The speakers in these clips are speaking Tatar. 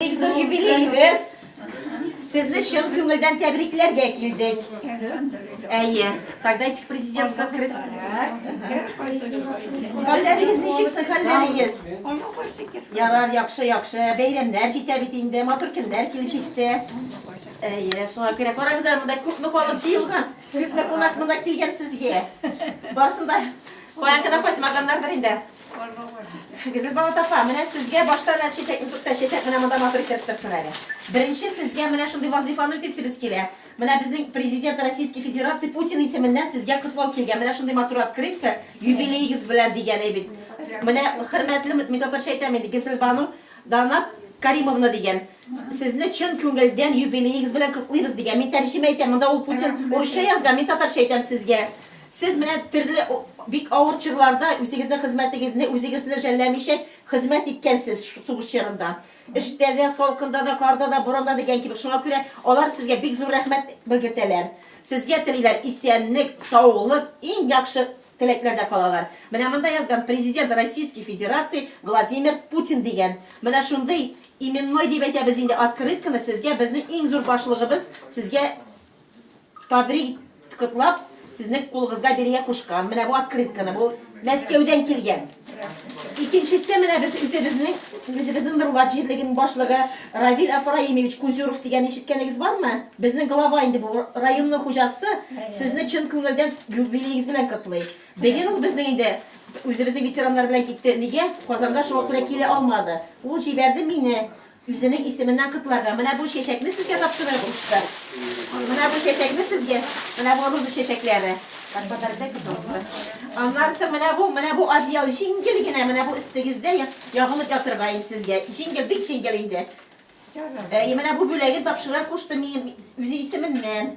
Бик зур юбилеегез! Сезне чын күңелдән тәбрикләргә килдек. Әйе, тогда этих президентского кры... Хәлләрегез ничек соң, хәлләрегез? Ярар, яхшы, яхшы. Бәйрәмнәр җитә бит инде, матур көннәр килеп җитте. Әйе, шуңа күрә карагыз әле монда күпме халык җыелган, күпме кунак монда килгән сезгә. Барсын да каян гына кайтмаганнардыр инде. Гөлзилбан апа, менә сезгә башта менә чәчәкне туктә, чәчәк менә монда матур иттереп торсын әле. Беренче сезгә менә шундый вазыйфаны үтисебез килә. Менә безнең Президент Российской Федерации Путин исеменнән сезгә котлау килгән. Менә шундый матур открытка, юбилеегыз белән дигәне бит. Менә хөрмәтле, мин татарча әйтәм инде, Гесилбану Данат Каримовна дигән. Сезне чын күңелдән юбилеегыз белән котлыйбыз, дигән. Мин тәрҗемә итәм, монда ул Путин урысча язган, мин татарча әйтәм сезгә. Сез менә төрле бик авыр чорларда үзегезнең хезмәтегезне үзегезне жәлләмичә хезмәт иткәнсез сугыш чорында. Эштә дә, салкында да, карда да, буранда дигән кебек. Шуңа күрә алар сезгә бик зур рәхмәт белгертәләр. Сезгә телиләр исәнлек, саулык, иң яхшы теләкләрдә калалар. Менә монда язган, Президент Российской Федерации Владимир Путин дигән. Менә шундый Именной дип әйтәбез инде открытканы сезгә безнең иң зур башлыгыбыз сезгә табри котлап сезнең кулыгызга бирергә кушкан менә бу открытканы бу мәскәүдән килгән икенчесе менә без үзебезнең үзебезнең норлат җирлегенең башлыгы равиль афраимович кузюров дигән ишеткәнегез бармы безнең глава инде бу районның хуҗасы сезне чын күңелдән юбилеегез белән котлый Быел ул безнең инде үзебезнең ветераннар белән китте. Нигә? Казанга шуңа күрә килә алмады. Ул җибәрде мине үзенең исеменнән котларга. Менә бу чәчәкне сезгә тапшырыр кушты. Менә бу чәчәкне сезгә, менә бу роза чәчәкләре. Подаркай, пожалуйста. Аннан соң менә бу, менә бу одеял җиңел генә, менә бу өстегездә ябынып ятырга инде сезгә. Җиңел, бик җиңел инде. Әйе, менә бу бүләген тапшырырга кушты минем үзе исеменнән.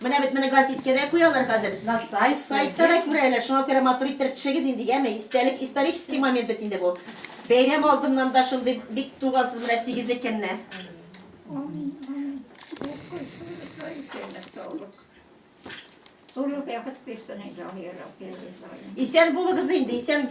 Менә бит моны газиткә дә куялар хәзер, на сайт, сайтта да күрәләр, шуңа күрә матур иттереп төшегез инде, яме, истәлек, исторический момент бит инде бу. Бәйрәм алдыннан да шундый бик тугансыз менә сигезле көнне. Амин, амин. Укый шулай исәнлек, саулык. Тулы бәхет бирсен, Илаһи Раббе, Исән булыгыз инде, исән.